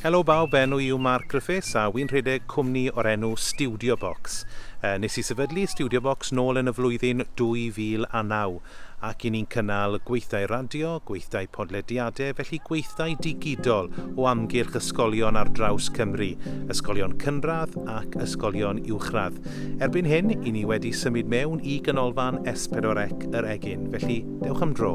Helo bawb, enw i yw Mark Griffiths a wy'n rhedeg cwmni o'r enw Studio Box. Nes i sefydlu Studio Box nôl yn y flwyddyn 2009. ac i ni'n cynnal gweithdai radio, gweithdai podlediadau, felly gweithdai digidol o amgylch ysgolion ar draws Cymru, ysgolion cynradd ac ysgolion uwchradd. Erbyn hyn, i ni wedi symud mewn i Ganolfan S4C yr Egin, felly dewch am dro.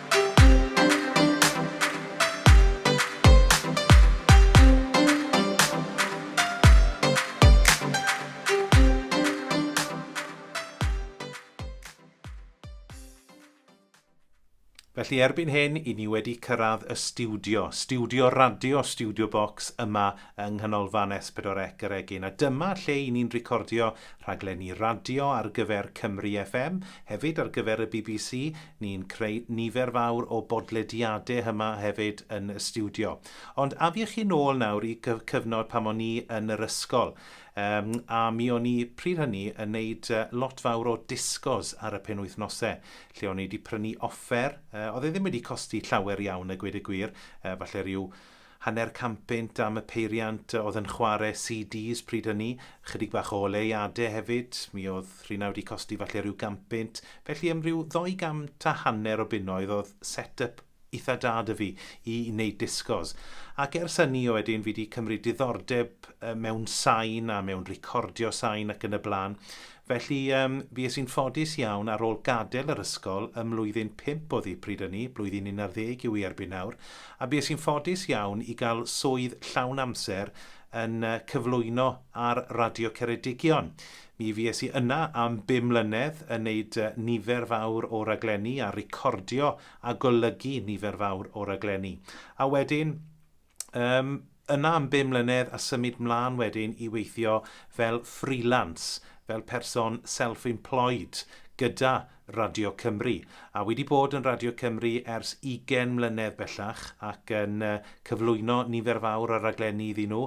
Felly erbyn hyn, i ni wedi cyrraedd y studio, studio radio, studio box yma yng Nghanolfan S4C yr Egin. A dyma lle i ni'n recordio rhaglenni radio ar gyfer Cymru FM, hefyd ar gyfer y BBC, Ni'n creu nifer fawr o bodlediade hyma hefyd yn y stiwdio. Ond afiech chi nôl nawr i cy- cyfnod pan o'n i yn yr ysgol. Um, a mi o'n i pryd hynny yn neud uh, lot fawr o disgos ar y penwythnose, lle o'n i wedi prynu offer. Uh, oedd e ddim wedi costi llawer iawn a gweud y gwir, uh, falle rhyw Hanner campynt am y peiriant oedd yn chware CDs pryd hynny, ychydig bach o oleuade hefyd, mi oedd rheina wedi costi falle ryw gampynt, felly am ryw ddou gant a hanner o bunnoedd oedd set yp itha da 'da fi i wneud discos. Ac ers hynny o wedyn fi 'di cymryd diddordeb mewn sain a mewn recordio sain ac yn y blaen. Felly, yym, fues i'n ffodus iawn ar ôl gadael yr ysgol ym mlwyddyn pump oedd hi pryd ynny, blwyddyn unarddeg yw hi erbyn nawr, a bues i'n ffodus iawn i gael swydd llawn amser yn yy cyflwyno ar Radio Ceredigion. Mi fues i yna am bum mlynedd yn neud yy nifer fawr o raglenni a recordio a golygu nifer fawr o raglenni. A wedyn, Yym, yna am bum mlynedd a symud mlân wedyn i weithio fel freelance, fel person self-employed gyda Radio Cymru. A wedi bod yn Radio Cymru ers 20 mlynedd bellach ac yn cyflwyno nifer fawr o raglenni iddyn nhw.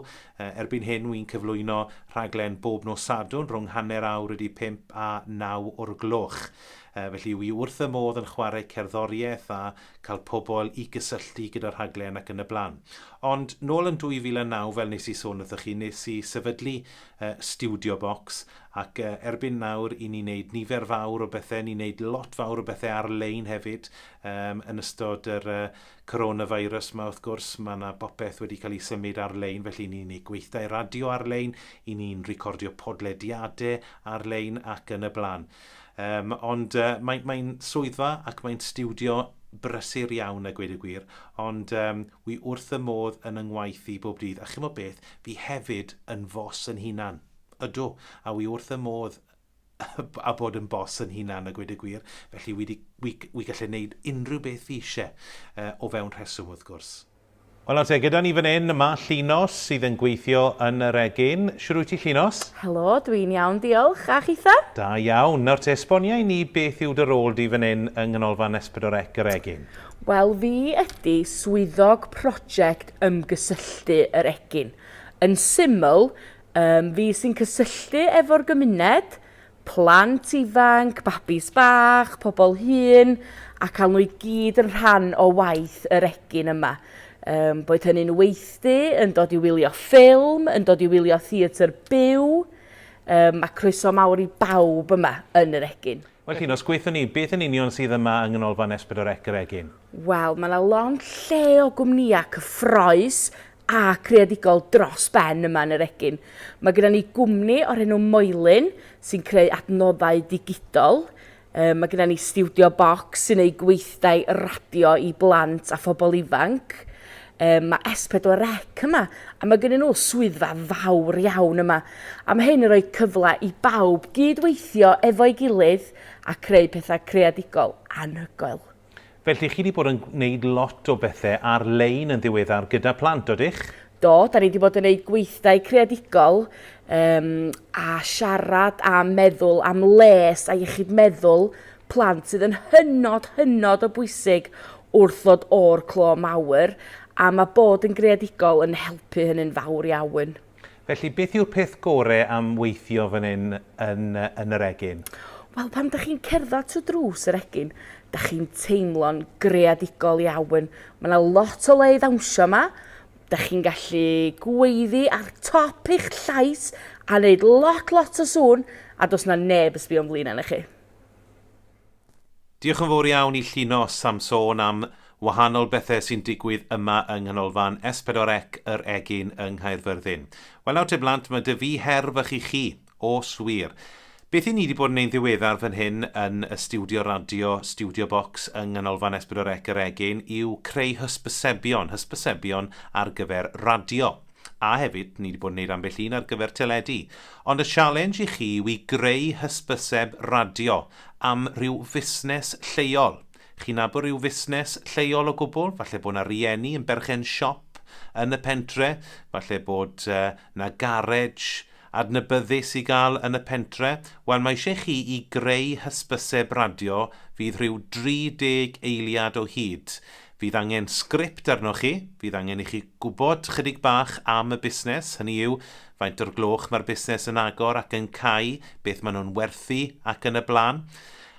Erbyn hyn wy'n cyflwyno rhaglen bob nos Sadwrn rhwng hanner awr wedi pimp a naw o'r gloch. Felly wi wrth y modd yn chwarae cerddoriaeth a cael pobl i gysylltu gyda'r rhaglen ac yn y blaen. Ond nôl yn 2009, fel nes i sôn wrthych chi, nes i sefydlu uh, Studio Box ac uh, erbyn nawr i ni wneud nifer fawr o bethau, ni'n wneud lot fawr o bethau ar-lein hefyd um, yn ystod yr uh, coronavirus yma wrth gwrs, mae yna bopeth wedi cael ei symud ar-lein, felly ni'n gwneud gweithdai radio ar-lein, i ni'n recordio podlediadau ar-lein ac yn y blaen. Um, ond uh, mae'n mae swyddfa ac mae'n stiwdio brysur iawn a gweud y gwir, ond um, wi wrth y modd yn yngwaith i bob dydd. A chymod beth, fi hefyd yn fos yn hunan. Ydw, a wi wrth y modd a bod yn bos yn hunan a gweud y gwir, felly wi, di, wi, wi gallu gwneud unrhyw beth fi eisiau uh, o fewn rheswm wrth gwrs. Wel nawr te, gyda ni fan hyn, mae Llinos sydd yn gweithio yn yr egin. Shwd wyt ti, Llinos? Helo, dwi'n iawn diolch, a chitha? Da iawn. Nawr te, esbonia i ni beth yw dy rôl di fan hyn yng Nghanolfan Esbydorec yr Egin? Wel, fi ydi Swyddog Project Ymgysylltu yr Egin. Yn syml, yym, fi sy'n cysylltu efo'r gymuned, plant ifanc, babis bach, pobl hŷn, a cael nhw i gyd yn rhan o waith yr egin yma. Um, boed hynny'n weithdy, yn dod i wylio ffilm, yn dod i wylio theatr byw, um, mae croeso mawr i bawb yma yn yr egin. Wel, Llinos, gweithio ni, beth yn union sydd yma yng Nghanolfan Esbyd o'r Ec yr Egin? Wel, mae 'na lond lle o gwmnïau cyffroes a creadigol dros ben yma yn yr egin. Mae gyda ni gwmni o'r enw Moelyn sy'n creu adnoddau digidol. Yy, mae gyda ni Stiwdio Box sy'n ei gweithdai radio i blant a phobl ifanc. Yy, mae S4C yma, a mae gyda nhw swyddfa fawr iawn yma. A mae hyn yn rhoi cyfle i bawb gyd-weithio efo'i gilydd a creu pethau creadigol anhygoel. Felly chi 'di bod yn gwneud lot o bethe ar lein yn ddiweddar gyda plant, odych? Do, 'da ni 'di bod yn neud gweithdai creadigol yym a siarad a meddwl am les a iechyd meddwl plant sydd yn hynod hynod o bwysig wrth ddod o'r clo mawr a ma' bod yn greadigol yn helpu hynny'n fawr iawn. Felly, beth yw'r peth gore am weithio fan hyn yn yn yr egin? Wel, pan dych chi'n cerdded trwy drws yr egin, dych chi'n teimlo'n greadigol iawn. Mae yna lot o le i ddawnsio yma. Dych chi'n gallu gweiddi ar top eich llais a wneud lot, lot o sŵn, a does yna neb yn sbio'n flin arnoch chi. Diolch yn fawr iawn i Llinos am sôn am wahanol bethe sy'n digwydd yma yng Nghanolfan S4C Yr Egin yng Nghaerfyrddin. Wel nawr te blant, mae 'da fi her fach i chi, os wir. Beth 'yn ni 'di bod yn neu'n ddiweddar fan hyn yn y stiwdio radio, Studio Box yng Nghanolfan S4C Yr Egin yw creu hysbysebion, hysbysebion ar gyfer radio. A hefyd, ni 'di bod yn neud ambell un ar gyfer teledu. Ond y sialens i chi yw i greu hysbyseb radio am rhyw fusnes lleol. Chi'n nabod rhyw fusnes lleol o gwbl? Falle bod 'na rieni yn berchen siop yn y pentre, falle bod 'na garej adnabyddus i gael yn y pentre. Wel, mae eisiau chi i greu hysbyseb radio fydd rhyw 30 eiliad o hyd. Fydd angen sgript arnoch chi, fydd angen i chi Gwybod chydig bach am y busnes, hynny yw, faint o'r gloch mae'r busnes yn agor ac yn cau, beth maen nhw'n werthu ac yn y blaen.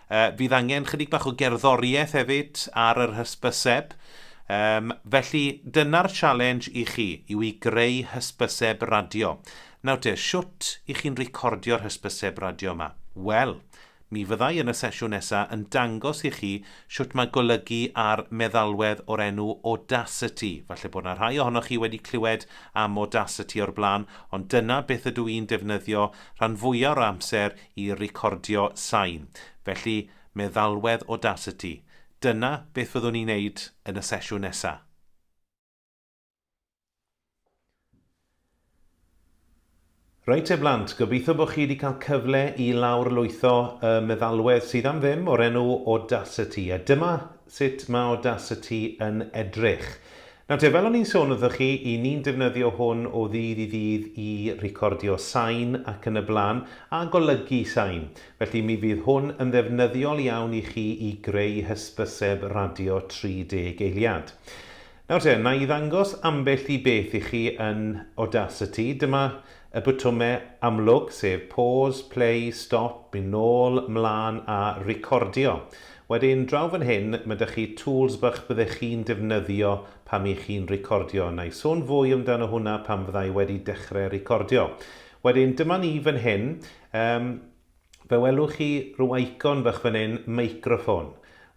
Yy fydd angen chydig bach o gerddoriaeth hefyd ar yr hysbyseb. Yym felly dyna'r challenge i chi, yw i greu hysbyseb radio. Nawr te, shwt 'y chi'n recordio'r hysbyseb radio yma? Wel, Mi fyddai yn y sesiwn nesa yn dangos i chi shwt mae golygu ar meddalwedd o'r enw Audacity. Falle bod 'na rhai ohonoch chi wedi clywed am Audacity o'r blaen, ond dyna beth ydw i'n defnyddio rhan fwya o'r amser i recordio sain. Felly, meddalwedd Audacity. Dyna beth fyddwn i'n neud yn y sesiwn nesa. Reit te blant, gobeithio bod chi wedi cael cyfle i lawr lwytho y meddalwedd sydd am ddim o'r enw Audacity, a dyma sut mae Audacity yn edrych. Nawr te, fel o'n i'n sôn wrthoch chi, i ni'n defnyddio hwn o ddydd i ddydd i recordio sain ac yn y blaen, a golygu sain. Felly mi fydd hwn yn ddefnyddiol iawn i chi i greu hysbyseb radio 30 eiliad. Nawr te, na i ddangos ambell i beth i chi yn Audacity. Dyma y botymau amlwg, sef Pause, Play, Stop, Mynd Nôl, Mlaen a Recordio. Wedyn, draw fan hyn, ma' 'da chi tools bach byddech chi'n defnyddio pan y'ch chi'n recordio. Na i sôn fwy amdano hwnna pan fydda i wedi dechre recordio. Wedyn, dyma ni fan hyn. Yym. Fe welwch chi ryw eicon fach fan hyn, meicroffon.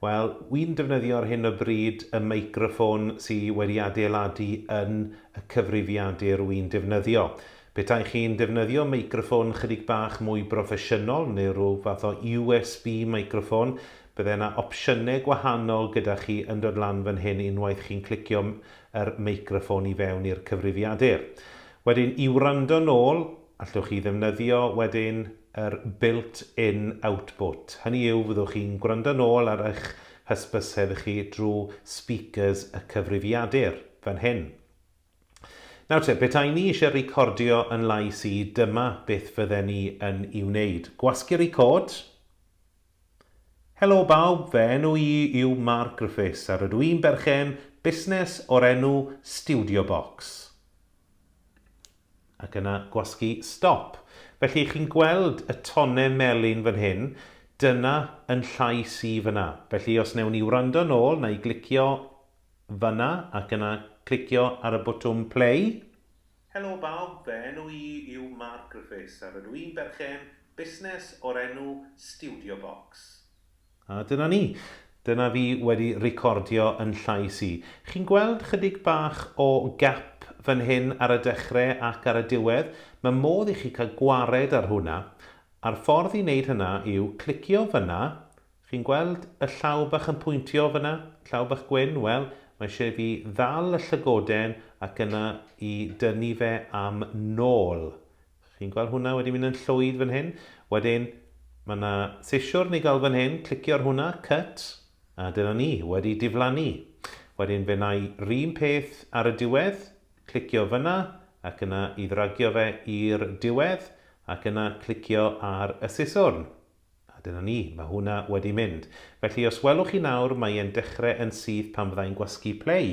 Wel, wi'n defnyddio ar hyn o bryd y meicroffon sy wedi adeiladu yn y cyfrifiadur wi'n defnyddio. Petai chi'n defnyddio meicroffon chydig bach mwy broffesiynol neu ryw fath o USB meicroffon, bydde 'na opsiyne gwahanol gyda chi yn dod lan fan hyn unwaith chi'n clicio yr meicroffon i fewn i'r cyfrifiadur. Wedyn, i wrando nôl, Allwch chi ddefnyddio wedyn yr built in output, hynny yw fyddwch chi'n gwrando nôl ar eich hysbyseb chi drwy speakers y cyfrifiadur, fan hyn. Nawr te, petai ni eisiau recordio yn lais i, dyma beth fydden ni yn i wneud. Gwasgu record. Helo bawb, fy enw i yw Mark Griffiths a rydw i'n berchen busnes o'r enw Studio Box. ac yna gwasgu stop. Felly, chi'n gweld y tone melyn fan hyn, dyna yn llais i fan'na. Felly, os wnewn ni wrando nôl, na i glicio fan'na ac yna clicio ar y botwm play. Helo bawb, fy enw i yw Mark Griffiths a rydw i'n berchen busnes o'r enw Studio Box. A dyna ni. Dyna fi wedi recordio yn llais i. Chi'n gweld chydig bach o gap fan hyn ar y dechre ac ar y diwedd? Mae modd i chi cael gwared ar hwna. A'r ffordd i wneud hynna yw clicio fanna, chi'n gweld y llaw bach yn pwyntio fanna? Llaw bach gwyn? Wel, mae eisiau i fi ddal y llygoden ac yna i dynnu fe am nôl. Chi'n gweld hwnna wedi mynd yn llwyd fan hyn. Wedyn, mae yna sisiwrn i gael fan hyn, clicio ar hwnna, cut, a dyna ni, wedi diflannu. Wedyn fe wna i 'r un peth ar y diwedd, clicio fan'na, ac yna i ddragio fe i'r diwedd, ac yna clicio ar y siswrn. A dyna ni, mae hwnna wedi mynd. Felly, os welwch chi nawr, mae e'n dechrau yn syth pan fydda i'n gwasgu play.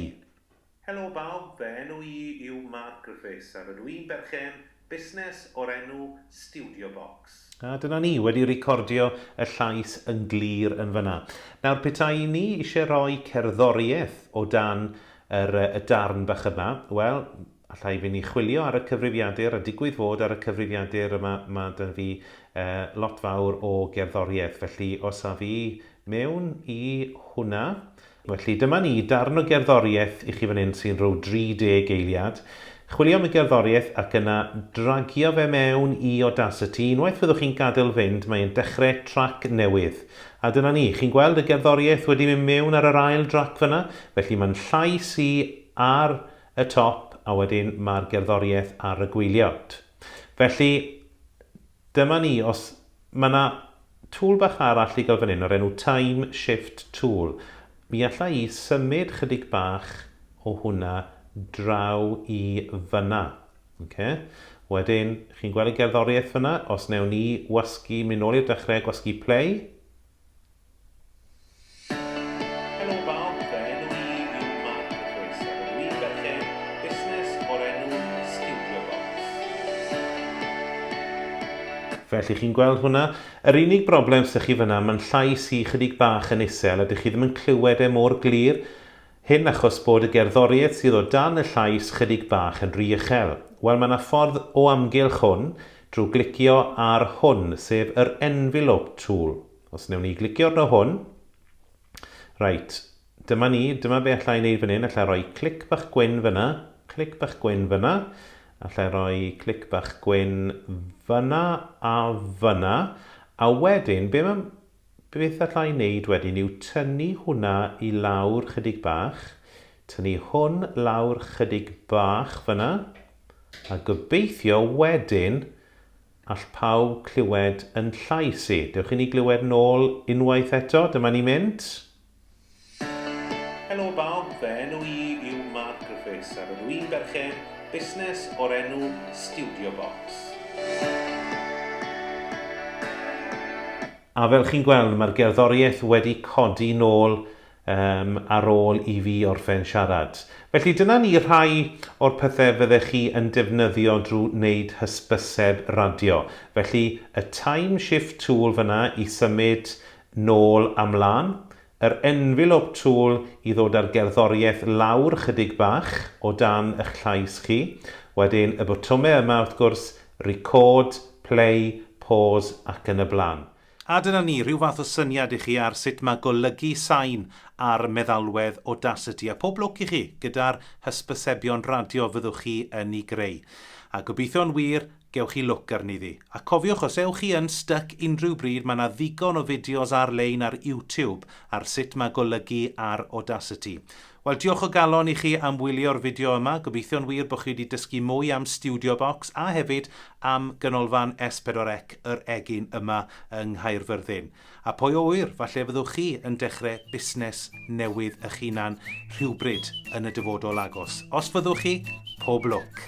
Helo bawb, fy enw i yw Mark Griffiths a rydw i'n berchen busnes o'r enw Studio Box. A dyna ni, wedi recordio y llais yn glir yn fan'na. Nawr, petai ni isie roi cerddoriaeth o dan yr y darn bach yma, wel, alla i fyn' i chwilio ar y cyfrifiadur a digwydd fod ar y cyfrifiadur yma ma' 'da fi yy lot fawr o gerddoriaeth, felly os af i mewn i hwnna, Felly, dyma ni, darn o gerddoriaeth i chi fan hyn sy'n rhyw 30 eiliad. Chwilio am y gerddoriaeth ac yna dragio fe mewn i Audacity. Unwaith fyddwch chi'n gadael fynd, mae e'n dechrau trac newydd. A dyna ni, chi'n gweld y gerddoriaeth wedi mynd mewn ar yr ail drac fan'na? Felly, mae'n llais i ar y top a wedyn mae'r gerddoriaeth ar y gwyliau. Felly, Dyma ni, os, mae 'na tool bach arall i gael fan hyn o'r enw Time Shift Tool. Mi alla i symud chydig bach o hwnna draw i fan'na. Oce? Wedyn, chi'n gweld y gerddoriaeth fan'na? Os newn ni wasgu, mynd nôl i'r dechrau, gwasgu play. Felly chi'n gweld hwnna? Yr unig broblem sy chi fyna, ma'n llais i chydig bach yn isel a dych chi ddim yn clywed e mor glir. Hyn achos bod y gerddoriaeth sydd o dan y llais chydig bach yn ry uchel. Wel, mae 'na ffordd o amgylch hwn drwy glicio ar hwn, sef yr Envelope tool. Os wnewn ni glicio arno hwn. Reit, dyma ni, dyma be alla i wneud fan hyn, alla i roi clic bach gwyn fyna, clic bach gwyn fyna, alla i roi clic bach gwyn fyna a fyna, a wedyn, be mae Beth allai wneud wedyn yw tynnu hwnna i lawr chydig bach, tynnu hwn lawr chydig bach fyna, a gobeithio wedyn all pawb clywed yn llais i. Dewch i ni glywed nôl unwaith eto, dyma ni'n mynd. Helo bawb, fy enw i yw Mark Griffiths a rydw i'n berchen busnes o'r enw Studio Box. A fel chi'n gweld, mae'r gerddoriaeth wedi codi nôl um, ar ôl i fi orffen siarad. Felly dyna ni rhai o'r pethau fyddech chi yn defnyddio drwy wneud hysbyseb radio. Felly y time shift tool fyna i symud Nôl a mlân, yr envelop tŵl i ddod â'r gerddoriaeth lawr chydig bach o dan y'ch llais chi, wedyn y botymau yma wrth gwrs, record, play, pause ac yn y blaen. A dyna ni, rhyw fath o syniad i chi ar sut mae golygu sain ar meddalwedd Audacity, a pob lwc i chi gyda'r hysbysebion radio fyddwch chi yn 'u greu. A gobeithio'n wir, gewch chi lwc arni ddi. A cofiwch os ewch chi yn styc unrhyw bryd mae 'na ddigon o fideos ar lein ar YouTube ar sut mae golygu ar Audacity. Wel diolch o galon i chi am wylio'r fideo yma, gobeithio'n wir bod chi wedi dysgu mwy am Studio Box a hefyd am Ganolfan S4C yr Egin yma yng Nghaerfyrddin. A pwy a ŵyr, falle fyddwch chi yn dechrau busnes newydd eich hunan rhywbryd yn y dyfodol agos. Os fyddwch chi, pob lwc!